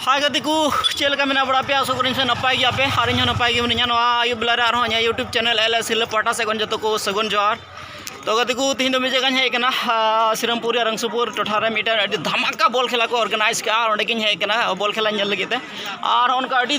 ᱦᱟᱭ ᱜᱟᱛᱮ ᱠᱚ ᱪᱮᱫ ᱞᱮᱠᱟ ᱢᱮᱱᱟᱜ ᱵᱟᱲᱟ ᱯᱮᱭᱟ ᱟᱥᱚᱜ ᱠᱟᱹᱱᱟᱹᱧ ᱥᱮ ᱱᱟᱯᱟᱭ ᱜᱮᱭᱟ ᱯᱮ ᱟᱨ ᱤᱧ ᱦᱚᱸ ᱱᱟᱯᱟᱭ ᱜᱮ ᱢᱤᱱᱟᱹᱧᱟ ᱱᱚᱣᱟ ᱟᱹᱭᱩᱵ ᱵᱮᱞᱟ ᱨᱮ ᱟᱨᱦᱚᱸ ᱤᱧᱟᱹᱜ ᱭᱩᱴᱩᱵᱽ ᱪᱮᱱᱮᱞ ᱮᱞ ᱮᱥ ᱦᱤᱞᱟᱹ ᱯᱟᱦᱴᱟ ᱥᱮᱫ ᱠᱷᱚᱱ ᱡᱚᱛᱚ ᱠᱚ ᱥᱟᱹᱜᱩᱱ ᱡᱚᱦᱟᱨ ᱛᱚ ᱜᱟᱛᱮ ᱠᱚ ᱛᱮᱦᱮᱧ ᱫᱚ ᱢᱤᱫ ᱡᱟᱭᱜᱟᱧ ᱦᱮᱡ ᱟᱠᱟᱱᱟ ᱥᱤᱨᱟᱢᱯᱩᱨ ᱨᱮᱭᱟᱜ ᱨᱟᱝᱥᱩᱯᱩᱨ ᱴᱚᱴᱷᱟ ᱨᱮ ᱢᱤᱫᱴᱮᱱ ᱟᱹᱰᱤ ᱫᱷᱟᱢᱟᱠᱟ ᱵᱚᱞ ᱠᱷᱮᱞᱟ ᱠᱚ ᱚᱨᱜᱟᱱᱟᱭᱤᱡᱽ ᱠᱟᱜᱼᱟ ᱚᱸᱰᱮ ᱜᱤᱧ ᱦᱮᱡ ᱟᱠᱟᱱᱟ ᱵᱚᱞ ᱠᱷᱮᱞᱟ ᱧᱮᱞ ᱞᱟᱹᱜᱤᱫ ᱛᱮ ᱟᱨ ᱚᱱᱠᱟ ᱟᱹᱰᱤ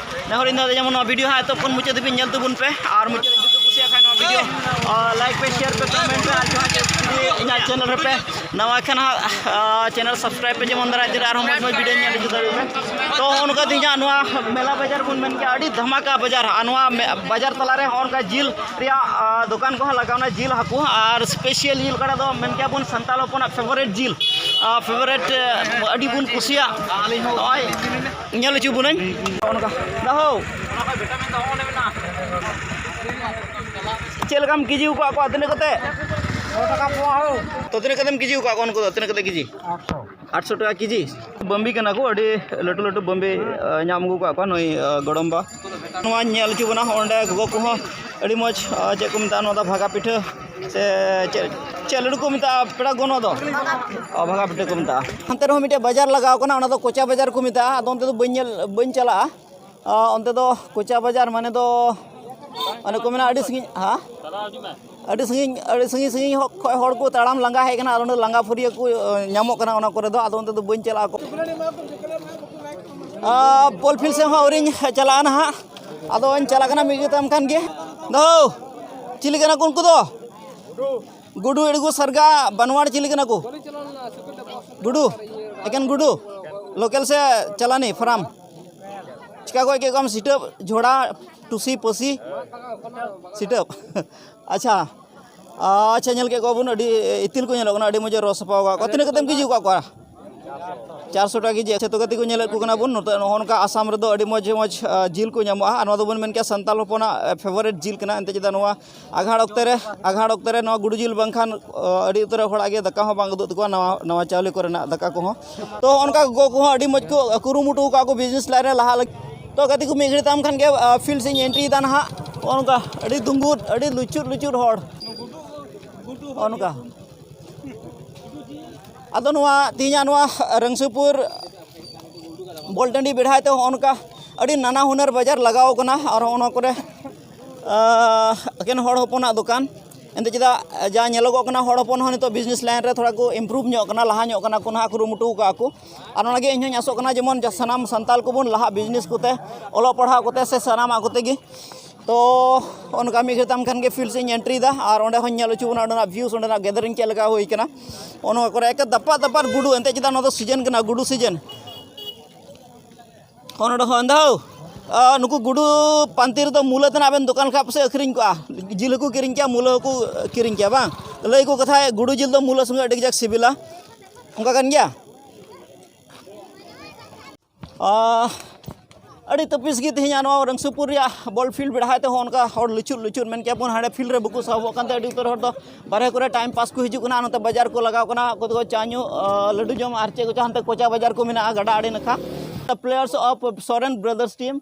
ᱱᱮᱦᱚᱨ ᱤᱧ ᱫᱚ ᱡᱮᱢᱚᱱ ᱱᱚᱣᱟ ᱵᱷᱤᱰᱤᱭᱳ ᱦᱟᱸᱜ ᱮᱛᱚᱦᱚᱵ ᱠᱷᱚᱱ ᱢᱩᱪᱟᱹᱫ ᱫᱷᱟᱹᱵᱤᱡ ᱧᱮᱞ ᱛᱟᱵᱚᱱ ᱯᱮ ᱟᱨ ᱢᱩᱪᱟᱹᱫ ᱡᱩᱫᱤ ᱠᱩᱥᱤᱭᱟᱜ ᱠᱷᱟᱱ ᱱᱚᱣᱟ ᱵᱷᱤᱰᱤᱭᱳ ᱞᱟᱭᱤᱠ ᱯᱮ ᱥᱮᱭᱟᱨ ᱯᱮ ᱠᱚᱢᱮᱱᱴ ᱯᱮ ᱟᱨ ᱡᱟᱦᱟᱸ ᱡᱩᱫᱤ ᱤᱧᱟᱹᱜ ᱪᱮᱱᱮᱞ ᱨᱮᱯᱮ ᱱᱟᱣᱟ ᱠᱷᱟᱱ ᱦᱟᱸᱜ ᱪᱮᱱᱮᱞ ᱥᱟᱵᱥᱠᱨᱟᱭᱤᱵ ᱯᱮ ᱡᱮᱢᱚᱱ ᱫᱟᱨᱟᱭ ᱛᱮ ᱟᱨᱦᱚᱸ ᱢᱚᱡᱽ ᱢᱚᱡᱽ ᱵᱷᱤᱰᱤᱭᱳ ᱧᱮᱞ ᱦᱤᱡᱩᱜ ᱫᱟᱲᱮᱭᱟᱜ ᱯᱮ ᱛᱚ ᱚᱱᱠᱟ ᱛᱮ ᱤᱧᱟᱹᱜ ᱱᱚᱣᱟ ᱢᱮᱞᱟ ᱵᱟᱡᱟᱨ ᱵᱚᱱ ᱢᱮᱱ ᱠᱮᱭᱟ ᱟᱹᱰᱤ ᱫᱷᱟᱢᱟᱠᱟ ᱵᱟᱡᱟᱨ ᱟᱨ ᱱᱚᱣᱟ ᱵᱟᱡᱟᱨ ᱛᱟᱞᱟᱨᱮ ᱦᱚᱸ ᱚᱱᱠᱟ ᱡᱤᱞ ᱨᱮᱭᱟᱜ ᱫᱚᱠᱟᱱ ᱠᱚᱦᱚᱸ ᱞᱟᱜᱟᱣᱱᱟ ᱡᱤᱞ ᱦᱟᱹᱠᱩ ᱟᱨ ᱥᱯᱮᱥᱤᱭᱟᱞ ᱡᱤᱞ ᱚᱠᱟᱴᱟᱜ ᱫᱚ ᱢᱮᱱ ᱠᱮᱭᱟ ᱵᱚᱱ ᱥᱟᱱᱛᱟᱲ ᱦᱚᱯᱚᱱᱟᱜ ᱯᱷᱮᱵᱟᱨᱮᱴ ᱡᱤᱞ ᱯᱷᱮᱵᱟᱨᱮᱴ ᱟᱹᱰᱤ ᱵᱚᱱ ᱠᱩᱥᱤᱭᱟᱜ ᱱᱚᱜᱼᱚᱭ ᱧᱮᱞ ᱦᱚᱪᱚ ᱵᱚᱱᱟᱹᱧ ᱚᱱᱠᱟ ᱫᱟᱦᱳ ᱪᱮᱫ ᱞᱮᱠᱟᱢ ᱠᱮᱡᱤ ᱟᱠᱟᱫ ᱠᱚᱣᱟ ᱛᱤᱱᱟᱹᱜ ᱠᱟᱛᱮ ᱛᱚ ᱛᱤᱱᱟᱹᱜ ᱠᱟᱛᱮᱢ ᱠᱮᱡᱤ ᱟᱠᱟᱫ ᱠᱚᱣᱟ ᱩᱱᱠᱩ ᱫᱚ ᱛᱤᱱᱟᱹᱜ ᱠᱟᱛᱮ ᱠᱮᱡᱤ ᱟᱴᱥᱚ ᱴᱟᱠᱟ ᱠᱮᱡᱤ ᱵᱟᱹᱢᱵᱤ ᱠᱟᱱᱟ ᱠᱚ ᱟᱹᱰᱤ ᱞᱟᱹᱴᱩ ᱞᱟᱹᱴᱩ ᱵᱟᱹᱢᱵᱤ ᱧᱟᱢ ᱟᱹᱜᱩ ᱟᱠᱟᱫ ᱠᱚᱣᱟ ᱱᱩᱭ ᱜᱚᱲᱚᱢ ᱵᱟ ᱱᱚᱣᱟᱧ ᱧᱮᱞ ᱦᱚᱪᱚ ᱵᱚᱱᱟ ᱚᱸᱰᱮ ᱜᱚᱜᱚ ᱠᱚᱦᱚᱸ ᱟᱹᱰᱤ ᱢᱚᱡᱽ ᱪᱮᱫ ᱠᱚ ᱢᱮᱛᱟᱜᱼᱟ ᱱᱚᱣᱟ ᱫᱚ ᱵᱷᱟᱜᱟ ᱯᱤᱴᱷᱟᱹ ᱥᱮ ᱪᱮᱫ ᱪᱮᱫ ᱞᱟᱹᱰᱩ ᱠᱚ ᱢᱮᱛᱟᱜᱼᱟ ᱯᱮᱲᱟ ᱜᱚᱱᱚ ᱫᱚ ᱚ ᱵᱷᱟᱜᱟ ᱯᱤᱴᱷᱟᱹ ᱠᱚ ᱢᱮᱛᱟᱜᱼᱟ ᱦᱟᱱᱛᱮ ᱨᱮᱦᱚᱸ ᱢᱤᱫᱴᱮᱡ ᱵᱟᱡᱟᱨ ᱞᱟᱜᱟᱣ ᱠᱟᱱᱟ ᱚᱱᱟ ᱫᱚ ᱠᱚᱪᱟ ᱵᱟᱡᱟᱨ ᱠᱚ ᱢᱮᱛᱟᱜᱼᱟ ᱟᱫᱚ ᱚᱱᱛᱮ ᱫᱚ ᱵᱟᱹᱧ ᱧᱮᱞ ᱵᱟᱹᱧ ᱪᱟᱞᱟᱜᱼᱟ ᱚᱱᱛᱮ ᱫᱚ ᱠᱚᱪᱟ ᱵᱟᱡᱟᱨ ᱢᱟᱱᱮ ᱫᱚ ᱚᱱᱮ ᱠᱚ ᱢᱮᱱᱟ ᱟᱹᱰᱤ ᱥᱟᱺᱜᱤᱧ ᱦᱮᱸ ᱟᱹᱰᱤ ᱥᱟᱺᱜᱤᱧ ᱟᱹᱰᱤ ᱥᱟᱺᱜᱤᱧ ᱥᱟᱺᱜᱤᱧ ᱠᱷᱚᱡ ᱦᱚᱲ ᱠᱚ ᱛᱟᱲᱟᱢ ᱞᱟᱸᱜᱟ ᱦᱮᱡ ᱠᱟᱱᱟ ᱟᱨ ᱚᱸᱰᱮ ᱞᱟᱸᱜᱟ ᱯᱷᱟᱹᱨᱭᱟᱹ ᱠᱚ ᱧᱟᱢᱚᱜ ᱠᱟᱱᱟ ᱚᱱᱟ ᱠᱚᱨᱮ ᱫᱚ ᱟᱫᱚ ᱚᱱᱛᱮ ᱫᱚ ᱵᱟᱹᱧ ᱪᱟᱞᱟᱜᱼᱟ ᱯᱳᱞᱯᱷᱤᱞ ᱥᱮᱫ ᱦᱚᱸ ᱟᱹᱣᱨᱤᱧ ᱪᱟᱞᱟᱜᱼᱟ ᱱᱟᱦᱟᱜ ᱟᱫᱚᱧ ᱪᱟᱞᱟᱜ ᱠᱟᱱᱟ ᱢᱤᱫ ᱡᱚᱛᱟᱢ ᱠᱟᱱ ᱜᱮ ᱫᱚ ᱪᱤᱞᱤ ᱠᱟᱱᱟ ᱠᱚ ᱩᱱᱠᱩ ᱫᱚ ᱜᱩᱰᱩ ᱮᱲᱜᱩ ᱥᱟᱨᱜᱟ ᱵᱟᱱᱣᱟᱲ ᱪᱤᱞᱤ ᱠᱟᱱᱟ ᱠᱚ ᱜᱩᱰᱩ ᱮᱠᱮᱱ ᱜᱩᱰᱩ ᱞᱳᱠᱮᱞ ᱥᱮ ᱪᱟᱞᱟᱱᱤ ᱯᱷᱟᱨᱟᱢ ᱪᱤᱠᱟ ᱜᱚᱡ ᱠᱮᱫ ᱠᱚᱣᱟᱢ ᱥᱤᱴᱟᱹᱯ ᱡᱷᱚᱲᱟ ᱴᱩᱥᱤ ᱯᱟᱹᱥᱤ ᱥᱤᱴᱟᱹᱯ ᱟᱪᱪᱷᱟ ᱟᱪᱪᱷᱟ ᱧᱮᱞ ᱠᱮᱫ ᱠᱚᱣᱟᱵᱚᱱ ᱟᱹᱰᱤ ᱤᱛᱤᱞ ᱠᱚ ᱧᱮᱞᱚᱜ ᱠᱟᱱᱟ ᱟᱹᱰᱤ ᱢᱚᱡᱽ ᱮ ᱨᱚᱜ ᱥᱟᱯᱷᱟ ᱟᱠᱟᱫ ᱠᱚᱣᱟ ᱛᱤᱱᱟᱹᱜ ᱠᱟᱛᱮᱢ ᱠᱮᱡᱤ ᱟᱠᱟᱫ ᱠᱚᱣᱟ ᱪᱟᱨᱥᱚ ᱴᱟᱠᱟ ᱠᱮᱡᱤ ᱟᱪᱪᱷᱟ ᱛᱚ ᱜᱟᱛᱮ ᱠᱚ ᱧᱮᱞᱮᱫ ᱠᱚ ᱠᱟᱱᱟ ᱵᱚᱱ ᱱᱚᱛᱮ ᱱᱚᱜᱼᱚ ᱱᱚᱝᱠᱟ ᱟᱥᱟᱢ ᱨᱮᱫᱚ ᱟᱹᱰᱤ ᱢᱚᱡᱽ ᱢᱚᱡᱽ ᱡᱤᱞ ᱠᱚ ᱧᱟᱢᱚᱜᱼᱟ ᱟᱨ ᱱᱚᱣᱟ ᱫᱚᱵᱚᱱ ᱢᱮᱱ ᱠᱮᱭᱟ ᱥᱟᱱᱛᱟᱲ ᱦᱚᱯᱚᱱᱟᱜ ᱯᱷᱮᱵᱟᱨᱮᱴ ᱡᱤᱞ ᱠᱟᱱᱟ ᱮᱱᱛᱮᱫ ᱪᱮᱫᱟᱜ ᱱᱚᱣᱟ ᱟᱸᱜᱷᱟᱲ ᱚᱠᱛᱮ ᱨᱮ ᱟᱸᱜᱷᱟᱲ ᱚᱠᱛᱮ ᱨᱮ ᱱᱚᱣᱟ ᱜᱩᱰᱩ ᱡᱤᱞ ᱵᱟᱝᱠᱷᱟᱱ ᱟᱹᱰᱤ ᱩᱛᱟᱹᱨ ᱦᱚᱲᱟᱜ ᱜᱮ ᱫᱟᱠᱟ ᱦᱚᱸ ᱵᱟᱝ ᱩᱫᱩᱜ ᱛᱟᱠᱚᱣᱟ ᱱᱟᱣᱟ ᱱᱟᱣᱟ ᱪᱟᱣᱞᱮ ᱠᱚᱨᱮᱱᱟᱜ ᱫᱟᱠᱟ ᱠᱚᱦᱚᱸ ᱛᱚ ᱚᱱᱠᱟ ᱜᱚᱜᱚ ᱠᱚᱦᱚᱸ ᱟᱹᱰᱤ ᱢᱚᱡᱽ ᱠᱚ ᱠᱩᱨᱩᱢᱩᱴᱩ ᱠᱟᱜᱼᱟ ᱠᱚ ᱵᱤᱡᱽᱱᱮᱥ ᱞᱟᱭᱤᱱ ᱨᱮ ᱞᱟᱦᱟᱜ ᱞᱟᱹᱜᱤᱫ ᱛᱚ ᱜᱟᱛᱮ ᱠᱚ ᱢᱤᱫ ᱜᱷᱟᱹᱲᱤᱡ ᱛᱟᱭᱚᱢ ᱠᱷᱟᱱ ᱜᱮ ᱯᱷᱤᱞᱰ ᱥᱮᱫ ᱤᱧ ᱮᱱᱴᱨᱤᱭᱮᱫᱟ ᱱᱟᱦᱟᱜ ᱱᱚᱜᱼᱚ ᱱᱚᱝᱠᱟ ᱟᱹᱰᱤ ᱫᱩᱸᱜᱩᱫ ᱟᱹᱰᱤ ᱞᱩᱪᱩᱫ ᱞᱩᱪᱩᱫ ᱦᱚᱲ ᱱᱚᱜᱼᱚ ᱱᱚᱝᱠᱟ ᱟᱫᱚ ᱱᱚᱣᱟ ᱛᱮᱦᱤᱧᱟᱜ ᱱᱚᱣᱟ ᱨᱟᱹᱝᱥᱟᱹᱯᱩᱨ ᱵᱚᱞ ᱴᱟᱺᱰᱤ ᱵᱮᱲᱦᱟᱭ ᱛᱮ ᱱᱚᱜᱼᱚ ᱱᱚᱝᱠᱟ ᱟᱹᱰᱤ ᱱᱟᱱᱟ ᱦᱩᱱᱟᱹᱨ ᱵᱟᱡᱟᱨ ᱞᱟᱜᱟᱣ ᱠᱟᱱᱟ ᱟᱨ ᱦᱚᱸᱜᱼᱚ ᱱᱚᱣᱟ ᱠᱚᱨᱮᱜ ᱮᱠᱮᱱ ᱦᱚᱲ ᱦᱚᱯᱚᱱᱟᱜ ᱫᱚᱠᱟᱱ ᱮᱱᱛᱮ ᱪᱮᱫᱟᱜ ᱡᱟ ᱧᱮᱞᱚᱜᱚᱜ ᱠᱟᱱᱟ ᱦᱚᱲ ᱦᱚᱯᱚᱱ ᱦᱚᱸ ᱱᱤᱛᱚᱜ ᱵᱤᱡᱽᱱᱮᱥ ᱞᱟᱭᱤᱱ ᱨᱮ ᱛᱷᱚᱲᱟ ᱠᱚ ᱤᱢᱯᱨᱩᱵᱷ ᱧᱚᱜ ᱠᱟᱱᱟ ᱞᱟᱦᱟ ᱧᱚᱜ ᱠᱟᱱᱟ ᱠᱚ ᱱᱟᱦᱟᱜ ᱠᱩᱨᱩᱢᱩᱴᱩ ᱠᱟᱜᱼᱟ ᱠᱚ ᱟᱨ ᱚᱱᱟᱜᱮ ᱤᱧ ᱦᱚᱸᱧ ᱟᱥᱚᱜ ᱠᱟᱱᱟ ᱡᱮᱢᱚᱱ ᱥᱟᱱᱟᱢ ᱥᱟᱱᱛᱟᱲ ᱠᱚᱵᱚᱱ ᱞᱟᱦᱟᱜ ᱵᱤᱡᱽᱱᱮᱥ ᱠᱚᱛᱮ ᱚᱞᱚᱜ ᱯᱟᱲᱦᱟᱣ ᱠᱚᱛᱮ ᱥᱮ ᱥᱟᱱᱟᱢᱟᱜ ᱠᱚᱛᱮ ᱜᱮ ᱛᱚ ᱚᱱᱠᱟ ᱢᱤᱫ ᱜᱷᱟᱹᱲᱤᱡ ᱛᱟᱭᱚᱢ ᱠᱷᱟᱱ ᱜᱮ ᱯᱷᱤᱞᱰ ᱥᱮᱫ ᱤᱧ ᱮᱱᱴᱨᱤ ᱮᱫᱟ ᱟᱨ ᱚᱸᱰᱮ ᱦᱚᱸᱧ ᱧᱮᱞ ᱦᱚᱪᱚ ᱵᱚᱱᱟ ᱚᱸᱰᱮᱱᱟᱜ ᱵᱷᱤᱭᱩᱥ ᱚᱸᱰᱮᱱᱟᱜ ᱜᱮᱫᱟᱨᱤᱝ ᱪᱮᱫ ᱞᱮᱠᱟ ᱦᱩᱭ ᱠᱟᱱᱟ ᱚᱱᱟ ᱠᱚᱨᱮ ᱮᱠᱮ ᱫᱟᱯᱟᱫ ᱫᱟᱯᱟᱫ ᱜᱩᱰᱩ ᱮᱱᱛᱮᱫ ᱪᱮᱫᱟᱜ ᱱᱚᱣᱟ ᱫᱚ ᱥᱤᱡᱮᱱ ᱠᱟᱱᱟ ᱜᱩᱰᱩ ᱥᱤᱡᱮᱱ ᱦᱚᱸ ᱱᱚᱰᱮ ᱦᱚᱸ ᱮᱱᱫᱟᱣ ᱱᱩᱠᱩ ᱜᱩᱰᱩ ᱯᱟᱱᱛᱮ ᱨᱮᱫᱚ ᱢᱩᱞᱟᱹ ᱛᱮᱱᱟᱜ ᱵᱮᱱ ᱫᱚᱠᱟᱱ ᱠᱷᱟᱱ ᱯᱟᱥᱮᱡ ᱟᱹᱠᱷᱨᱤᱧ ᱠᱚᱜᱼᱟ ᱡᱤᱞ ᱦᱚᱸᱠᱚ ᱠᱤᱨᱤᱧ ᱠᱮᱭᱟ ᱢᱩᱞᱟᱹ ᱦᱚᱸᱠᱚ ᱠᱤᱨᱤᱧ ᱠᱮᱭᱟ ᱵᱟᱝ ᱞᱟᱹᱭ ᱠᱚ ᱠᱟᱛᱷᱟ ᱜᱩᱰᱩ ᱡᱤᱞ ᱫᱚ ᱢᱩᱞᱟᱹ ᱥᱚᱸᱜᱮ ᱟᱹᱰᱤ ᱠᱟᱡᱟᱠ ᱥᱤᱵᱤᱞᱟ ᱚᱱᱠᱟ ᱠᱟᱱ ᱜᱮᱭᱟ ᱟᱹᱰᱤ ᱛᱟᱹᱯᱤᱥ ᱜᱮ ᱛᱮᱦᱮᱧᱟᱜ ᱱᱚᱣᱟ ᱨᱟᱹᱝᱥᱩᱯᱩᱨ ᱨᱮᱭᱟᱜ ᱵᱚᱞ ᱯᱷᱤᱞᱰ ᱵᱮᱲᱦᱟᱭ ᱛᱮᱦᱚᱸ ᱚᱱᱠᱟ ᱦᱚᱲ ᱞᱩᱪᱩᱜ ᱞᱩᱪᱩᱜ ᱢᱮᱱ ᱠᱮᱭᱟ ᱵᱚᱱ ᱦᱟᱸᱰᱮ ᱯᱷᱤᱞᱰ ᱨᱮ ᱵᱟᱠᱚ ᱥᱟᱦᱚᱵᱚᱜ ᱠᱟᱱᱛᱮ ᱟᱹᱰᱤ ᱩᱛᱟᱹᱨ ᱦᱚᱲ ᱫᱚ ᱵᱟᱦᱨᱮ ᱠᱚᱨᱮ ᱴᱟᱭᱤᱢ ᱯᱟᱥ ᱠᱚ ᱦᱤᱡᱩᱜ ᱠᱟᱱᱟ ᱱᱚᱛᱮ ᱵᱟᱡᱟᱨ ᱠᱚ ᱞᱟᱜᱟᱣ ᱠᱟᱱᱟ ᱚᱠᱚᱭ ᱫᱚᱠᱚ ᱪᱟ ᱧᱩ ᱞᱟᱹᱰᱩ ᱡᱚᱢ ᱟᱨ ᱪᱮᱫ ᱠᱚᱪᱚᱝ ᱦᱟᱱᱛᱮ ᱠᱚᱪᱟ ᱵᱟᱡᱟᱨ ᱠᱚ ᱢᱮᱱᱟᱜᱼᱟ ᱜᱟᱰᱟ ᱟᱲᱮ ᱱᱟᱠᱷᱟ players of Soren brothers team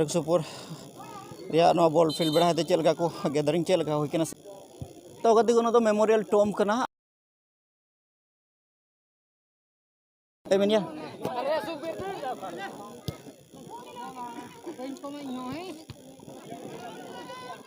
Rasupur ᱨᱮᱭᱟᱜ ᱱᱚᱣᱟ ᱵᱚᱞ ᱯᱷᱤᱞᱰ ᱵᱮᱲᱦᱟᱭ ᱛᱮ ᱪᱮᱫ ᱞᱮᱠᱟ ᱠᱚ ᱜᱮᱫᱟᱨᱤᱝ ᱪᱮᱫ ᱞᱮᱠᱟ ᱦᱩᱭ ᱠᱟᱱᱟ ᱛᱚ ᱜᱟᱛᱮ ᱠᱚ ᱱᱚᱣᱟ ᱫᱚ ᱢᱮᱢᱳᱨᱤᱭᱟᱞ ᱴᱳᱢ ᱠᱟᱱᱟ ᱮᱢ ᱢᱮᱱᱭᱟ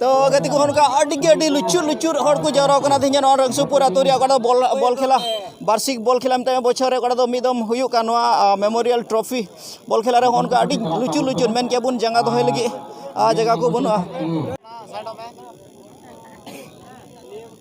ᱛᱚ ᱜᱟᱛᱮ ᱠᱚ ᱚᱱᱠᱟ ᱟᱹᱰᱤ ᱜᱮ ᱟᱹᱰᱤ ᱞᱩᱪᱩᱨ ᱞᱩᱪᱩᱨ ᱦᱚᱲ ᱠᱚ ᱡᱟᱣᱨᱟ ᱠᱟᱱᱟ ᱛᱮᱦᱮᱧ ᱱᱚᱣᱟ ᱨᱟᱝᱥᱩᱯᱩᱨ ᱟᱛᱳ ᱨᱮᱭᱟᱜ ᱚᱠᱟᱴᱟᱜ ᱵᱚᱞ ᱵᱚᱞ ᱠᱷᱮᱞᱟ ᱵᱟᱨᱥᱤᱠ ᱵᱚᱞ ᱠᱷᱮᱞᱟ ᱢᱮᱛᱟᱭ ᱵᱚᱪᱷᱚᱨ ᱨᱮ ᱚᱠᱟᱴᱟᱜ ᱫᱚ ᱢᱤᱫ ᱫᱚᱢ ᱦᱩᱭᱩᱜ ᱠᱟᱱ ᱱᱚᱣᱟ ᱢᱮᱢᱳᱨᱤᱭᱟᱞ ᱴᱨᱚᱯᱷᱤ ᱵᱚᱞ ᱠᱷᱮᱞᱟ ᱨᱮ ᱚᱱᱠᱟ ᱟᱹᱰᱤ ᱞᱩᱪᱩᱨ ᱞᱩᱪᱩᱨ ᱢᱮᱱ ᱠᱮᱭᱟ ᱵᱚᱱ ᱡᱟᱸᱜᱟ ᱫᱚᱦᱚᱭ ᱞᱟᱹᱜᱤᱫ ᱡᱟᱭᱜᱟ ᱠᱚ ᱵᱟᱹᱱᱩᱜᱼᱟ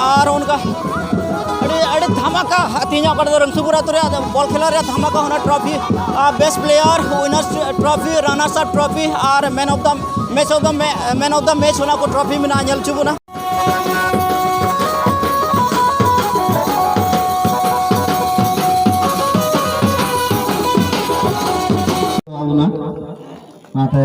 ᱟᱨ ᱚᱱᱠᱟ ᱟᱹᱰᱤ ᱟᱹᱰᱤ ᱫᱷᱟᱢᱟᱠᱟ ᱛᱮᱦᱮᱧ ᱚᱠᱟ ᱫᱚ ᱨᱟᱢᱥᱩᱯᱩᱨ ᱟᱛᱳ ᱨᱮ ᱵᱚᱞ ᱠᱷᱮᱞᱟ ᱨᱮ ᱫᱷᱟᱢᱟᱠᱟ ᱚᱱᱟ trophy best player winners trophy runners up trophy ᱟᱨ man of the match of the man of the match ᱚᱱᱟ ᱠᱚ ᱴᱨᱚᱯᱷᱤ ᱢᱮᱱᱟᱜᱼᱟ ᱧᱮᱞ ᱦᱚᱪᱚ ᱵᱚᱱᱟ ᱚᱱᱟᱛᱮ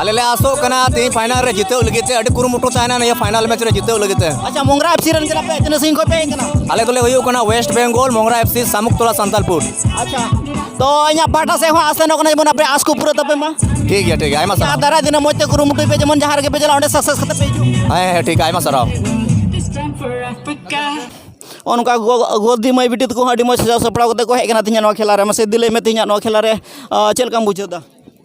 ᱟᱞᱮ ᱞᱮ ᱟᱥᱚᱜ ᱠᱟᱱᱟ ᱛᱮᱦᱮᱧ ᱯᱷᱟᱭᱱᱟᱞ ᱨᱮ ᱡᱤᱛᱟᱹᱣ ᱞᱟᱹᱜᱤᱫ ᱛᱮ ᱟᱹᱰᱤ ᱠᱩᱨᱩᱢᱩᱴᱩ ᱛᱟᱦᱮᱱᱟ ᱱᱤᱭᱟᱹ ᱯᱷᱟᱭᱱᱟᱞ ᱢᱮᱪ ᱨᱮ ᱡᱤᱛᱟᱹᱣ ᱞᱟᱹᱜᱤᱫ ᱛᱮ ᱟᱪᱪᱷᱟ ᱢᱚᱝᱜᱽᱨᱟ ᱮᱯᱥᱤ ᱨᱮᱱ ᱠᱟᱱᱟ ᱯᱮ ᱛᱤᱱᱟᱹᱜ ᱥᱟᱺᱜᱤᱧ ᱠᱷᱚᱱ ᱯᱮ ᱦᱮᱡ ᱠᱟᱱᱟ ᱟᱞᱮ ᱫᱚᱞᱮ ᱦᱩᱭᱩᱜ ᱠᱟᱱᱟ West Bengal Mongra FC Samuktala Santalpur ᱟᱪᱪᱷᱟ ᱛᱚ ᱤᱧᱟᱹᱜ ᱯᱟᱦᱴᱟ ᱥᱮᱫ ᱦᱚᱸ ᱟᱥ ᱥᱮᱱᱚᱜ ᱠᱟᱱᱟ ᱡᱮᱢᱚᱱ ᱟᱯᱮ ᱟᱥ ᱠᱚ ᱯᱩᱨᱟᱹ ᱛᱟᱯᱮ ᱢᱟ ᱴᱷᱤᱠ ᱜᱮᱭᱟ ᱴᱷᱤᱠ ᱜᱮᱭᱟ ᱟᱭᱢᱟ ᱟᱨ ᱥᱟᱨᱦᱟᱣ ᱫᱟᱨᱟᱭ ᱫᱤᱱ ᱢᱚᱡᱽ ᱛᱮ ᱠᱩᱨᱩᱢᱩᱴᱩᱭ ᱯᱮ ᱡᱮᱢᱚᱱ ᱡᱟᱦᱟᱸ ᱨᱮᱜᱮ ᱯᱮ ᱪᱟᱞᱟᱜ ᱚᱸᱰᱮ ᱥᱟᱠᱥᱮᱥ ᱠᱟᱛᱮ ᱯᱮ ᱦᱤᱡᱩᱜ ᱦᱮᱸ ᱦᱮᱸ ᱴᱷᱤᱠ ᱟᱭᱢᱟ ᱥᱟᱨᱦᱟᱣ This time for Africa. ᱚᱱᱠᱟ ᱜᱚᱫᱤ ᱢᱟᱹᱭ ᱵᱤᱴᱤ ᱛᱟᱠᱚ ᱦᱚᱸ ᱟᱹᱰᱤ ᱢᱚᱡᱽ ᱥᱟᱡᱟᱣ ᱥᱟᱯᱲᱟᱣ ᱠᱟᱛᱮ ᱠᱚ ᱦᱮᱡ ᱠᱟᱱᱟ ᱛᱤᱦᱤᱧᱟᱜ ᱱᱚᱣᱟ ᱠᱷᱮᱞᱟ ᱨᱮ ᱢᱟᱥᱮ ᱤᱫᱤ ᱞᱟᱹᱭ ᱢᱮ ᱛᱤᱦᱤᱧᱟᱜ ᱱᱚᱣᱟ ᱠᱷᱮᱞᱟ ᱨᱮ ᱪᱮᱫ ᱞᱮᱠᱟᱢ ᱵᱩᱡᱷᱟᱹᱣ ᱮᱫᱟ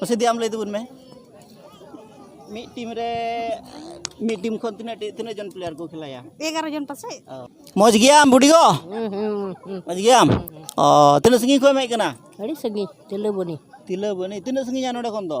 ᱢᱟᱥᱮ ᱫᱤ ᱟᱢ ᱞᱟᱹᱭ ᱛᱟᱵᱚᱱ ᱢᱮ ᱢᱤᱫ ᱴᱤᱢ ᱨᱮ ᱢᱤᱫ ᱴᱤᱢ ᱠᱷᱚᱱ ᱛᱤᱱᱟᱹᱜ ᱛᱤᱱᱟᱹᱜ ᱡᱚᱱ ᱯᱞᱮᱭᱟᱨ ᱠᱚ ᱠᱷᱮᱞᱟᱭᱟ ᱮᱜᱟᱨᱚ ᱡᱚᱱ ᱯᱟᱥᱮᱡ ᱢᱚᱡᱽ ᱜᱮᱭᱟᱢ ᱵᱩᱰᱤ ᱜᱚ ᱢᱚᱡᱽ ᱜᱮᱭᱟᱢ ᱚ ᱛᱤᱱᱟᱹᱜ ᱥᱟᱺᱜᱤᱧ ᱠᱷᱚᱱ ᱮᱢ ᱦᱮᱡ ᱠᱟᱱᱟ ᱟᱹᱰᱤ ᱥᱟᱺᱜᱤᱧ ᱛᱤᱞᱟᱹᱵᱚᱱᱤ ᱛᱤᱞᱟᱹᱵᱚᱱᱤ ᱛᱤᱱᱟᱹᱜ ᱥᱟᱺᱜᱤᱧᱟ ᱱᱚᱰᱮ ᱠᱷᱚᱱ ᱫᱚ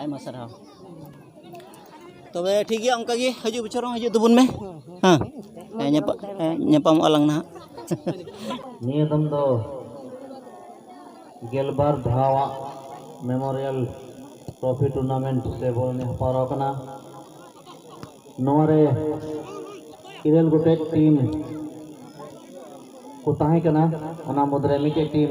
ᱟᱭᱢᱟ ᱥᱟᱨᱦᱟᱣ ᱛᱚᱵᱮ ᱴᱷᱤᱠ ᱜᱮᱭᱟ ᱚᱱᱠᱟ ᱜᱮ ᱦᱤᱡᱩᱜ ᱵᱚᱪᱷᱚᱨ ᱦᱚᱸ ᱦᱤᱡᱩᱜ ᱛᱟᱵᱚᱱ ᱢᱮ ᱦᱮᱸ ᱦᱮᱸ ᱧᱟᱯᱟ- ᱦᱮᱸ, ᱧᱟᱯᱟᱢᱚᱜᱼᱟ ᱞᱟᱝ ᱱᱟᱦᱟᱜ ᱱᱤᱭᱟᱹ ᱫᱚᱢ ᱫᱚ ᱜᱮᱞᱵᱟᱨ ᱫᱷᱟᱣᱟᱜ ᱢᱮᱢᱳᱨᱤᱭᱟᱞ ᱴᱨᱚᱯᱷᱤ ᱴᱩᱨᱱᱟᱢᱮᱱᱴ ᱥᱮ ᱵᱚᱞ ᱮᱱᱮᱡ ᱦᱮᱯᱨᱟᱣ ᱠᱟᱱᱟ ᱱᱚᱣᱟᱨᱮ ᱤᱨᱟᱹᱞ ᱜᱚᱴᱮᱡ ᱴᱤᱢ ᱠᱚ ᱛᱟᱦᱮᱸ ᱠᱟᱱᱟ ᱚᱱᱟ ᱢᱩᱫᱽᱨᱮ ᱢᱤᱫᱴᱮᱡ ᱴᱤᱢ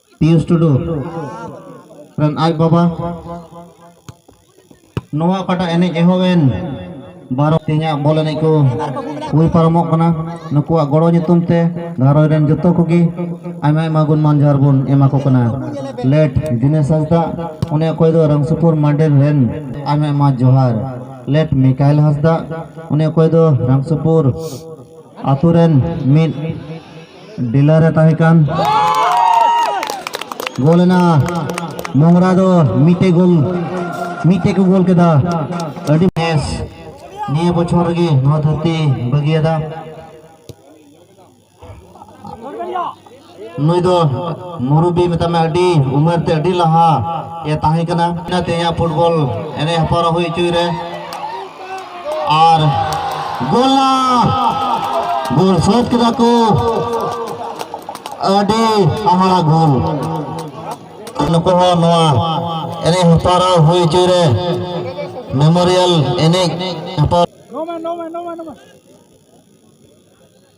ᱯᱤᱭᱩᱥ ᱴᱩᱰᱩ ᱨᱮᱱ ᱟᱡ ᱵᱟᱵᱟ ᱱᱚᱣᱟ ᱚᱠᱟᱴᱟᱜ ᱮᱱᱮᱡ ᱮᱦᱚᱵ ᱮᱱ ᱵᱟᱨᱚ ᱛᱮᱦᱮᱧᱟᱜ ᱵᱚᱞ ᱮᱱᱮᱡ ᱠᱚ ᱦᱩᱭ ᱯᱟᱨᱚᱢᱚᱜ ᱠᱟᱱᱟ ᱱᱩᱠᱩᱣᱟᱜ ᱜᱚᱲᱚ ᱧᱩᱛᱩᱢ ᱛᱮ ᱜᱷᱟᱨᱚᱸᱡᱽ ᱨᱮᱱ ᱡᱚᱛᱚ ᱠᱚᱜᱮ ᱟᱭᱢᱟ ᱟᱭᱢᱟ ᱜᱩᱱ ᱢᱟᱱ ᱡᱚᱦᱟᱨ ᱵᱚᱱ ᱮᱢᱟ ᱠᱚ ᱠᱟᱱᱟ ᱞᱮᱴ ᱫᱤᱱᱮᱥ ᱦᱟᱸᱥᱫᱟ ᱚᱱᱮ ᱚᱠᱚᱭ ᱫᱚ ᱨᱟᱢᱥᱩᱯᱩᱨ ᱢᱟᱱᱰᱮᱨ ᱨᱮᱱ ᱟᱭᱢᱟ ᱟᱭᱢᱟ ᱡᱚᱦᱟᱨ ᱞᱮᱴ ᱢᱤᱠᱟᱭᱞ ᱦᱟᱸᱥᱫᱟ ᱚᱱᱮ ᱚᱠᱚᱭ ᱫᱚ ᱨᱟᱢᱥᱩᱯᱩᱨ ᱟᱛᱳ ᱨᱮᱱ ᱢᱤᱫ ᱰᱤᱞᱟᱨ ᱮ ᱛᱟᱦᱮᱸ ᱠᱟᱱ ᱜᱳᱞ ᱮᱱᱟ ᱢᱚᱝᱨᱟ ᱫᱚ ᱢᱤᱫᱴᱮᱡ ᱜᱳᱞ ᱢᱤᱫᱴᱮᱡ ᱠᱚ ᱜᱳᱞ ᱠᱮᱫᱟ ᱟᱹᱰᱤ ᱵᱮᱥ ᱱᱤᱭᱟᱹ ᱵᱚᱪᱷᱚᱨ ᱨᱮᱜᱮ ᱱᱚᱣᱟ ᱫᱷᱟᱹᱨᱛᱤ ᱵᱟᱹᱜᱤᱭᱟᱫᱟ ᱱᱩᱭ ᱫᱚ ᱢᱩᱨᱩᱵᱤ ᱢᱮᱛᱟᱜ ᱢᱮ ᱟᱹᱰᱤ ᱩᱢᱮᱨ ᱛᱮ ᱟᱹᱰᱤ ᱞᱟᱦᱟ ᱮ ᱛᱟᱦᱮᱸ ᱠᱟᱱᱟ ᱛᱮᱦᱮᱧᱟᱜ ᱯᱷᱩᱴᱵᱚᱞ ᱮᱱᱮᱡ ᱦᱮᱯᱨᱟᱣ ᱦᱩᱭ ᱦᱚᱪᱚᱭ ᱨᱮ ᱟᱨ ᱜᱳᱞᱟ ᱜᱳᱞ ᱥᱟᱹᱛ ᱠᱮᱫᱟ ᱠᱚ ᱟᱹᱰᱤ ᱦᱟᱦᱟᱲᱟ ᱜᱳᱞ ᱱᱩᱠᱩ ᱦᱚᱸ ᱱᱚᱣᱟ ᱮᱱᱮᱡ ᱦᱮᱯᱨᱟᱣ ᱦᱩᱭ ᱦᱚᱪᱚᱭ ᱨᱮ ᱢᱮᱢᱳᱨᱤᱭᱟᱞ ᱮᱱᱮᱡ ᱦᱮᱯᱨᱟᱣ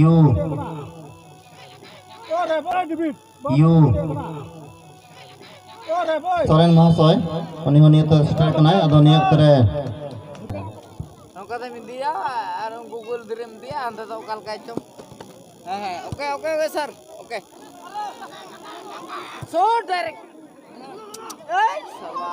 yu yu ᱥᱚᱨᱮᱱ ᱢᱚᱦᱟᱥᱚᱭ ᱩᱱᱤ ᱦᱚᱸ ᱱᱤᱭᱟᱹ ᱛᱮ ᱥᱮᱴᱮᱨ ᱠᱟᱱᱟᱭ ᱟᱫᱚ ᱱᱤᱭᱟᱹ ᱚᱠᱛᱚ ᱨᱮ ᱱᱚᱝᱠᱟ ᱛᱮᱢ ᱤᱫᱤᱭᱟ ᱟᱨ ᱜᱩᱜᱩᱞ ᱫᱷᱤᱨᱮᱢ ᱤᱫᱤᱭᱟ ᱚᱱᱛᱮ ᱫᱚ ᱚᱠᱟ ᱞᱮᱠᱟᱭ ᱪᱚᱝ ᱦᱮᱸ ᱦᱮᱸ okay okay okay sir okay so direct ᱮᱭ ᱥᱟᱞᱟ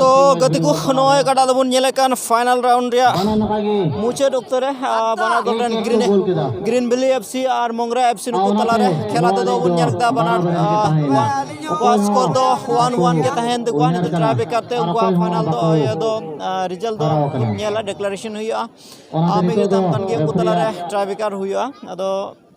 ᱛᱚ ᱜᱟᱛᱮ ᱠᱚ ᱱᱚᱜᱼᱚᱭ ᱚᱠᱟᱴᱟᱜ ᱫᱚᱵᱚᱱ ᱧᱮᱞᱮᱫ ᱠᱟᱱ ᱯᱷᱟᱭᱱᱟᱞ ᱨᱟᱣᱩᱱᱰ ᱨᱮᱭᱟᱜ ᱢᱩᱪᱟᱹᱫ ᱚᱠᱛᱚ ᱨᱮ ᱵᱟᱱᱟᱨ ᱫᱚᱞ ᱨᱮᱱ ᱜᱨᱤᱱ ᱜᱨᱤᱱ ᱵᱷᱮᱞᱤ ᱮᱯ ᱥᱤ ᱟᱨ ᱢᱚᱝᱨᱟ ᱮᱯ ᱥᱤ ᱱᱩᱠᱩ ᱛᱟᱞᱟᱨᱮ ᱠᱷᱮᱞᱟ ᱛᱮᱫᱚ ᱵᱚᱱ ᱧᱮᱞ ᱠᱮᱫᱟ ᱵᱟᱱᱟᱨ ᱩᱱᱠᱩᱣᱟᱜ ᱥᱠᱳᱨ ᱫᱚ ᱳᱣᱟᱱ ᱳᱣᱟᱱ ᱜᱮ ᱛᱟᱦᱮᱱ ᱛᱟᱠᱚᱣᱟ ᱱᱤᱛᱚᱜ ᱴᱨᱟᱭ ᱵᱮᱠᱟᱨ ᱛᱮ ᱩᱱᱠᱩᱣᱟᱜ ᱯᱷᱟᱭᱱᱟᱞ ᱫᱚ ᱤᱭᱟᱹ ᱫᱚ ᱨᱮᱡᱟᱞᱴ ᱫᱚ ᱵᱚᱱ ᱧᱮᱞᱟ ᱰᱮᱠᱞᱟᱨᱮᱥᱚᱱ ᱦᱩᱭᱩᱜᱼᱟ ᱟᱢ ᱢᱤᱫ ᱜᱮ ᱛᱟᱦᱮᱱ ᱠᱟᱱ ᱜᱮᱭᱟ ᱩᱱᱠᱩ ᱛᱟᱞᱟᱨᱮ ᱴᱨᱟᱭ ᱵᱮᱠᱟᱨ ᱦᱩᱭᱩᱜᱼᱟ ᱟᱫᱚ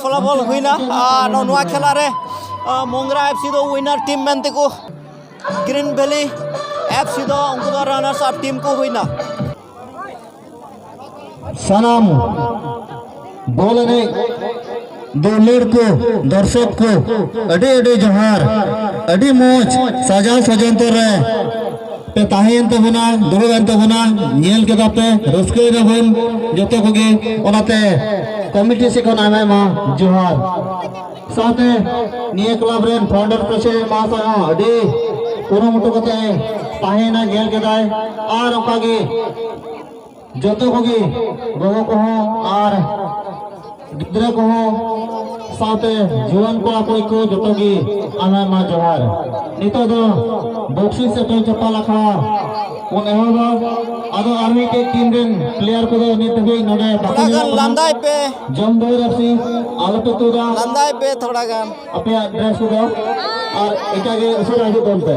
ᱯᱷᱚᱞᱟᱯᱷᱚᱞ ᱦᱩᱭᱱᱟ ᱟᱨ ᱱᱚᱣᱟ ᱠᱷᱮᱞᱟ ᱨᱮ ᱢᱚᱝᱜᱽᱨᱟ ᱮᱯᱷ ᱥᱤ ᱫᱚ ᱩᱭᱱᱟᱨ ᱴᱤᱢ ᱢᱮᱱ ᱛᱮᱠᱚ ᱜᱨᱤᱱ ᱵᱷᱮᱞᱤ ᱮᱯᱷ ᱥᱤ ᱫᱚ ᱩᱱᱠᱩ ᱫᱚ ᱨᱟᱱᱟᱨᱥ ᱟᱯ ᱴᱤᱢ ᱠᱚ ᱦᱩᱭᱱᱟ ᱥᱟᱱᱟᱢ ᱵᱚᱞ ᱮᱱᱮᱡ ᱫᱩᱞᱟᱹᱲ ᱠᱚ ᱫᱚᱨশᱚᱠ ᱠᱚ ᱟᱹᱰᱤ ᱟᱹᱰᱤ ᱡᱚᱦᱟᱨ ᱟᱹᱰᱤ ᱢᱚᱡᱽ ᱥᱟᱡᱟᱣ ᱥᱚᱡᱚᱱᱛᱚ ᱨᱮ ᱯᱮ ᱛᱟᱦᱮᱸᱭᱮᱱ ᱛᱟᱵᱚᱱᱟ ᱫᱩᱲᱩᱵ ᱮᱱ ᱛᱟᱵᱚᱱᱟ ᱧᱮᱞ ᱠᱮᱫᱟ ᱯᱮ ᱨᱟᱹᱥᱠᱟᱹᱭ ᱱᱟᱵᱚᱱ ᱡᱚᱛᱚ ᱠᱚᱜᱮ ᱚᱱᱟᱛᱮ ᱠᱚᱢᱤᱴᱤ ᱥᱮᱫ ᱠᱷᱚᱱ ᱟᱭᱢᱟ ᱟᱭᱢᱟ ᱡᱚᱦᱟᱨ ᱥᱟᱶᱛᱮ ᱱᱤᱭᱟᱹ ᱠᱞᱟᱵᱽ ᱨᱮᱱ ᱯᱷᱟᱣᱩᱱᱰᱟᱨ ᱯᱨᱮᱥᱤᱰᱮᱱᱴ ᱢᱟᱦᱟᱥᱚᱭ ᱦᱚᱸ ᱟᱹᱰᱤ ᱠᱩᱨᱩᱢᱩᱴᱩ ᱠᱟᱛᱮ ᱛᱟᱦᱮᱸᱭᱮᱱᱟ ᱧᱮᱞ ᱠᱮᱫᱟᱭ ᱟᱨ ᱚᱱᱠᱟᱜᱮ ᱡᱚᱛᱚ ᱠᱚᱜᱮ ᱜᱚᱜᱚ ᱠᱚᱦᱚᱸ ᱟᱨ ᱜᱤᱫᱽᱨᱟᱹ ᱠᱚᱦᱚᱸ ᱥᱟᱶᱛᱮ ᱡᱩᱣᱟᱹᱱ ᱠᱚᱲᱟ ᱠᱩᱲᱤ ᱠᱚ ᱡᱚᱛᱚ ᱜᱮ ᱟᱭᱢᱟ ᱟᱭᱢᱟ ᱡᱚᱦᱟᱨ ᱱᱤᱛᱚᱜ ᱫᱚ ᱵᱚᱠᱥᱤ ᱥᱮᱴᱮᱞ ᱪᱟᱯᱟᱞ ᱟᱠᱷᱲᱟ ᱵᱚᱱ ᱮᱦᱚᱵᱟ ᱟᱫᱚ ᱟᱨ ᱢᱤᱫᱴᱮᱡ ᱴᱤᱢ ᱨᱮᱱ ᱯᱞᱮᱭᱟᱨ ᱠᱚᱫᱚ ᱱᱤᱛ ᱫᱷᱟᱹᱵᱤᱡ ᱱᱚᱰᱮ ᱵᱟᱠᱚ ᱧᱮᱞᱚᱜ ᱠᱟᱱᱟ ᱞᱟᱸᱫᱟᱭ ᱯᱮ ᱡᱚᱢ ᱫᱚ ᱨᱟᱥᱤ ᱟᱞᱚ ᱯᱮ ᱛᱩᱫᱟ ᱞᱟᱸᱫᱟᱭ ᱯᱮ ᱛᱷᱚᱲᱟ ᱜᱟᱱ ᱟᱯᱮᱭᱟᱜ ᱰᱨᱮᱥ ᱠᱚᱫᱚ ᱟᱨ ᱮᱴᱟᱜ ᱜᱮ ᱩᱥᱟᱹᱨᱟ ᱦᱤᱡᱩᱜ ᱛᱟᱵᱚᱱ ᱯᱮ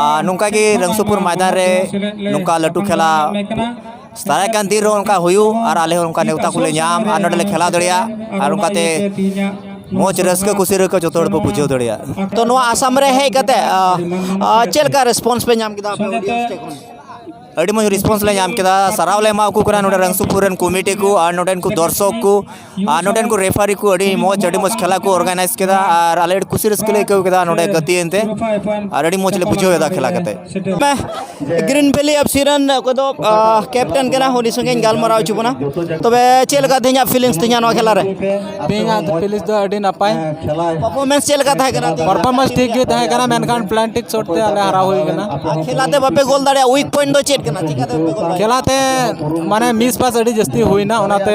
ᱟᱨ ᱱᱚᱝᱠᱟ ᱜᱮ ᱨᱟᱝᱥᱩᱯᱩᱨ ᱢᱟᱭᱫᱟᱱ ᱨᱮ ᱱᱚᱝᱠᱟ ᱞᱟᱹᱴᱩ ᱠᱷᱮᱞᱟ ᱫᱟᱨᱟᱭ ᱠᱟᱱ ᱫᱤᱱ ᱨᱮᱦᱚᱸ ᱚᱱᱠᱟ ᱦᱩᱭᱩᱜ ᱟᱨ ᱟᱞᱮ ᱦᱚᱸ ᱚᱱᱠᱟ ᱱᱮᱣᱛᱟ ᱠᱚᱞᱮ ᱧᱟᱢ ᱟᱨ ᱱᱚᱰᱮᱞᱮ ᱠᱷᱮᱞᱟ ᱫᱟᱲᱮᱭᱟᱜ ᱟᱨ ᱚᱱᱠᱟᱛᱮ ᱢᱚᱡᱽ ᱨᱟᱹᱥᱠᱟᱹ ᱠᱩᱥᱤ ᱨᱮᱠᱚ ᱡᱚᱛᱚ ᱦᱚᱲ ᱵᱚ ᱵᱩᱡᱷᱟᱹᱣ ᱫᱟᱲᱮᱭᱟᱜ ᱛᱚ ᱱᱚᱣᱟ ᱟᱥᱟᱢ ᱨᱮ ᱦᱮᱡ ᱠᱟᱛᱮ ᱪᱮᱫ ᱞᱮᱠᱟ ᱨᱮᱥᱯᱚᱱᱥ ᱯᱮ ᱧᱟᱢ ᱠᱮᱫᱟ ᱟᱹᱰᱤ ᱢᱚᱡᱽ ᱨᱮᱥᱯᱚᱱᱥ ᱞᱮ ᱧᱟᱢ ᱠᱮᱫᱟ ᱥᱟᱨᱦᱟᱣ ᱞᱮ ᱮᱢᱟᱣ ᱠᱚ ᱠᱟᱱᱟ ᱱᱚᱰᱮ ᱨᱟᱝᱥᱩᱯᱩᱨ ᱨᱮᱱ ᱠᱚᱢᱤᱴᱤ ᱠᱚ ᱟᱨ ᱱᱚᱰᱮᱱ ᱠᱚ ᱫᱚᱨᱥᱚᱠ ᱠᱚ ᱟᱨ ᱱᱚᱰᱮᱱ ᱠᱚ ᱨᱮᱯᱷᱟᱨᱤ ᱠᱚ ᱟᱹᱰᱤ ᱢᱚᱡᱽ ᱟᱹᱰᱤ ᱢᱚᱡᱽ ᱠᱷᱮᱞᱟ ᱠᱚ ᱚᱨᱜᱟᱱᱟᱭᱤᱡᱽ ᱠᱮᱫᱟ ᱟᱨ ᱟᱞᱮ ᱟᱹᱰᱤ ᱠᱩᱥᱤ ᱨᱟᱹᱥᱠᱟᱹ ᱞᱮ ᱟᱹᱭᱠᱟᱹᱣ ᱠᱮᱫᱟ ᱱᱚᱰᱮ ᱜᱟᱛᱮ ᱮᱱᱛᱮ ᱟᱨ ᱟᱹᱰᱤ ᱢᱚᱡᱽ ᱞᱮ ᱵᱩᱡᱷᱟᱹᱣ ᱮᱫᱟ ᱠᱷᱮᱞᱟ ᱠᱟᱛᱮ ᱜᱨᱤᱱ ᱵᱷᱮᱞᱤ ᱮᱯᱷ ᱥᱤ ᱨᱮᱱ ᱚᱠᱚᱭ ᱫᱚ ᱠᱮᱯᱴᱮᱱ ᱠᱟᱱᱟ ᱩᱱᱤ ᱥᱚᱸᱜᱮᱧ ᱜᱟᱞᱢᱟᱨᱟᱣ ᱦᱚᱪᱚ ᱵᱚᱱᱟ ᱛᱚᱵᱮ ᱪᱮᱫ ᱞᱮᱠᱟ ᱛᱮᱦᱮᱧᱟᱜ ᱯᱷᱤᱞᱤᱝᱥ ᱛᱮᱦᱮᱧᱟᱜ ᱱᱚᱣᱟ ᱠᱷᱮᱞᱟ ᱨᱮ ᱛᱮᱦᱮᱧᱟᱜ ᱯᱷᱤᱞᱤᱝᱥ ᱫᱚ ᱟᱹᱰᱤ ᱱᱟᱯᱟᱭ ᱯᱟᱨᱯᱷᱚᱨᱢᱮᱱᱥ ᱪᱮᱫ ᱞᱮᱠᱟ ᱛᱟᱦᱮᱸ ᱠᱟᱱᱟ ᱯᱟᱨᱯᱷᱚᱨᱢᱮᱱᱥ ᱴᱷᱤᱠ ᱜᱮ ᱛᱟᱦᱮᱸ ᱠᱟᱱᱟ ᱢᱮᱱᱠᱷᱟᱱ ᱯᱞᱟᱱᱴᱤᱠ ᱥᱚᱴ ᱛᱮ ᱟᱞᱮ ᱦᱟᱨᱟᱣ ᱦᱩᱭ ᱠᱟᱱᱟ ᱠᱷᱮᱞᱟ ᱛᱮ ᱵᱟᱯᱮ ᱜᱳᱞ ᱫᱟᱲᱮᱭᱟᱜᱼᱟ ᱩᱭᱤᱠ ᱯᱚᱭᱮᱱᱴ ᱫᱚ ᱪᱮᱫ ᱠᱟᱱᱟ ᱪᱤᱠᱟᱹᱛᱮ ᱠᱷᱮᱞᱟ ᱛᱮ ᱢᱟᱱᱮ ᱢᱤᱥ ᱯᱟᱥ ᱟᱹᱰᱤ ᱡᱟᱹᱥᱛᱤ ᱦᱩᱭᱱᱟ ᱚᱱᱟᱛᱮ